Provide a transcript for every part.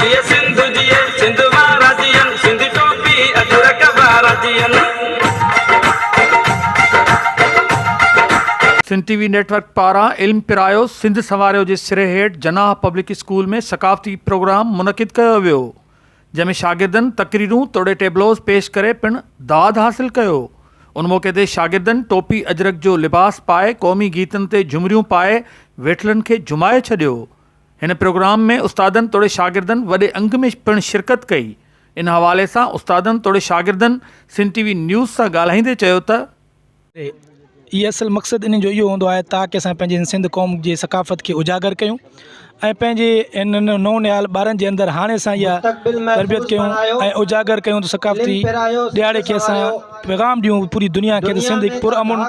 جيئي سنڌ جيئي سنڌ وارا جيئن سنڌي ٽوپي اجرڪ وارا جيئن. Sindh TV network پاران علم پرايو سنڌ سنواريو جي سري هيٺ جناح پبلڪ اسڪول ۾ ثقافتي پروگرام منعقد ڪيو ويو جنهن ۾ شاگردن تقريرون توڙي ٽيبلوز پيش ڪري پڻ داد حاصل ڪيو ان موقعي تي شاگردن ٽوپي اجرڪ جو لباس پائي قومي گيتن تي جهمريون پائي ويٺلن کي جهمائي ڇڏيو هن پروگرام ۾ استادن توڙي شاگردن وڏي انگ ۾ پڻ شرڪت ڪئي، ان حوالي سان استادن توڙي شاگردن سنڌ ٽي وي نيوز سان ڳالهائيندي چيو ته. اي اصل مقصد انهن جو اهو هوندو آهي تاڪ اسان پنهنجي هن سنڌ قوم جي ثقافت کي اجاگر ڪيون ۽ پنهنجي انهن نون نهال ٻارن جي اندر هاڻي اسان اها تربيت ڪيون ۽ اجاگر ڪيون ته ثقافتي ڏهاڙي کي اسان پيغام ڏيون پوري دنيا کي ته سنڌ هڪ پر امن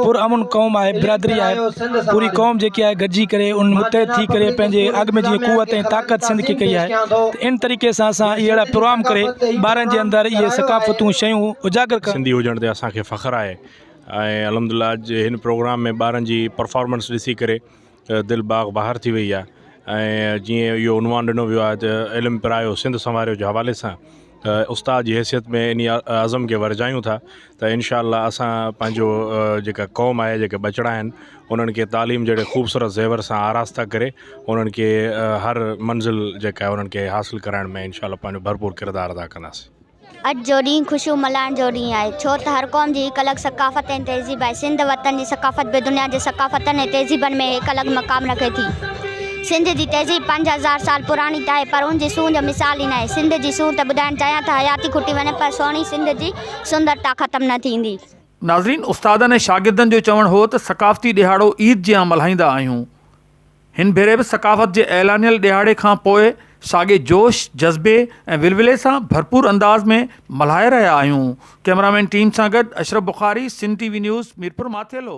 پر امن قوم آهي برادري آهي پوري قوم جيڪي آهي گڏجي ڪري ان متحد ٿي ڪري پنهنجي اڳ ۾ جيئي قوت ۽ طاقت سنڌ کي ڪئي آهي ته ان طريقي سان اسان اهڙا پروام ڪري ٻارن جي اندر اهي ثقافتون شيون اجاگر ڪرڻ سنڌي هجڻ تي اسان کي فخر آهي ۽ الحمد لله اڄ هن پروگرام ۾ ٻارن جي پرفارمنس ڏسي ڪري دل باغ بهار ٿي وئي آهي ۽ جيئن اهو عنوان ڏنو ويو آهي ته علم پرايو سنڌ سنواريو جي حوالي سان ته استاد جي حيثيت ۾ انهي عزم کي ورجايون ٿا ته انشاء الله اسان پنهنجو جيڪا قوم آهي جيڪي ٻچڙا آهن انهن کي تعليم جهڙي خوبصورت زيور سان آراسته ڪري انهن کي هر منزل جيڪا انهن کي حاصل ڪرائڻ ۾ انشاء الله پنهنجو ڀرپور ڪردار ادا ڪنداسين اڄ جو ڏينهن خوشيون ملهائڻ جو ڏينهن آهي، ڇو ته هر قوم جي هڪ الڳ ثقافت ۽ تهذيب آهي. سنڌ وطن جي ثقافت به دنيا جي ثقافتن ۽ تهذيبن ۾ هڪ الڳ مقام رکي ٿي. سنڌ جي تهذيب پنج هزار سال پراڻي ته آهي پر ان جي سونهن جو مثال ئي ناهي. سنڌ جي سونهن ته ٻڌائڻ چاهيان ته حياتي کٽي وڃي پر سهڻي سنڌ جي سندرتا ختم نه ٿيندي. ناظرين، استادن ۽ شاگردن جو چوڻ هو ته ثقافتي ڏهاڙو عيد جيان ملهائيندا آهيون. هن ڀيري به ثقافت جي اعلانيل ڏهاڙي کان پوء ساڳي جوش، جذبي ۽ ولولي سان ڀرپور انداز ۾ ملهائي رهيا آهيون، ڪئميرامين ٽيم سان گڏ Ashraf Bukhari, Sindh TV news, Mirpur Mathelo.